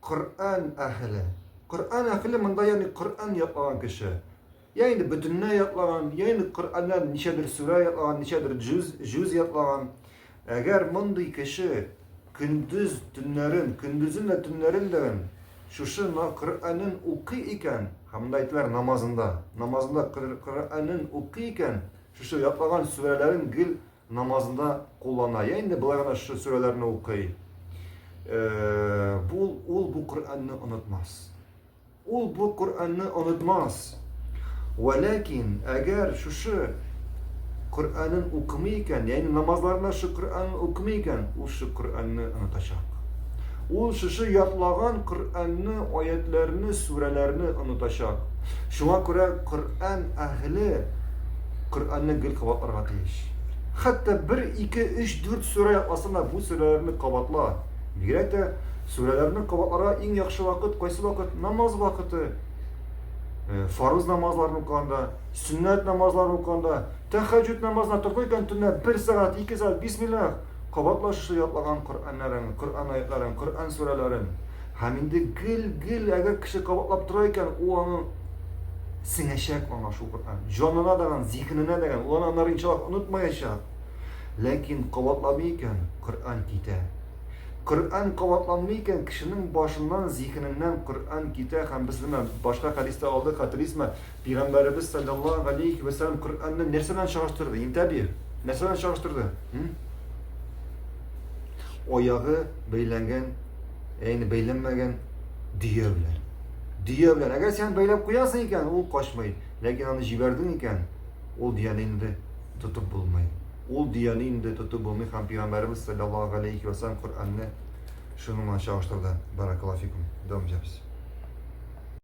Коръән әхеле. Коръән әхеле монда ягъни Коръән ятлаган кеше. Я инде бөтенләй ятлаган, я инде Коръәннән ничәдер сүрә ятлаган, ничәдер җүз, җүз ятлаган. Әгәр мондый кеше көндез төннәрен, көндезен дә төннәрен дә шушы Коръәнен укый икән, һәм монда әйтеләр намазында, намазында Коръәнен укый икән, шушы ятлаган сүрәләрен гел намазында куллана. Я инде болай гына шушы сүрәләрне укый. Бу ул бу Коръәнне онытмас. Ул бу Коръәнне онытмас. Вәләкин, әгәр шушы Коръәнен укымый икән, ягъни намазларында шушы Коръәнне укымый икән, ул шушы Коръәнне онытачак. Ул шушы ятлаган Коръәнне, аятларны, сүрәләрне онытачак. Шуңа күрә Коръән әһле Коръәнне гел кабатларга тиеш. Хәтта бер, ике, өч, дүрт сүрә ятласына бу сүрәләрне кабатла. Бигрәк тә сүрәләрне кабатларга иң яхшы вакыт кайсы вакыт? Намаз вакыты. Э, фарыз намазларын укыганда, сөннәт намазларын укыганда, тәхәҗҗүд намазына тордың икән төнлә бер сәгать, ике сәгать бисмиллах, кабатла шушы ятлаган Коръәннәрен, Коръән аятларын, Коръән сүрәләрен. Һәм инде гел, гел, әгәр кеше кабатлап тора икән, ул аның сеңәчәк аңа шул Коръән. Җанына даган, зиһененә даган, ул аны аннары иншаллаһ онытмаячак. Ләкин кабатламый икән, Коръән китә. Коръән кабатланмый икән, кешенең башыннан, зиһененнән Коръән китә һәм без менә башка хәдистә алдык, хәтерлисезме? Пәйгамбәребез саллаллаһу галәйһи вә сәлләм Коръәнне нәрсә белән чагыштырды? Интәби, нәрсә белән чагыштырды? Аягы бәйләнгән Әйне бәйләнмәгән дөя белән. Дөя белән. Әгәр сен бәйләп куясың икән, ул качмый. Ләкин аны җибәрдең икән, ул дөяне инде тотып булмый. Ул дөяне инде тотып булмый һәм пәйгамбәребез саллаллаһу алейхи ва саллям Коръәнне шуның белән чагыштырды. Баракаллаһу фикум. Дәвам итәбез.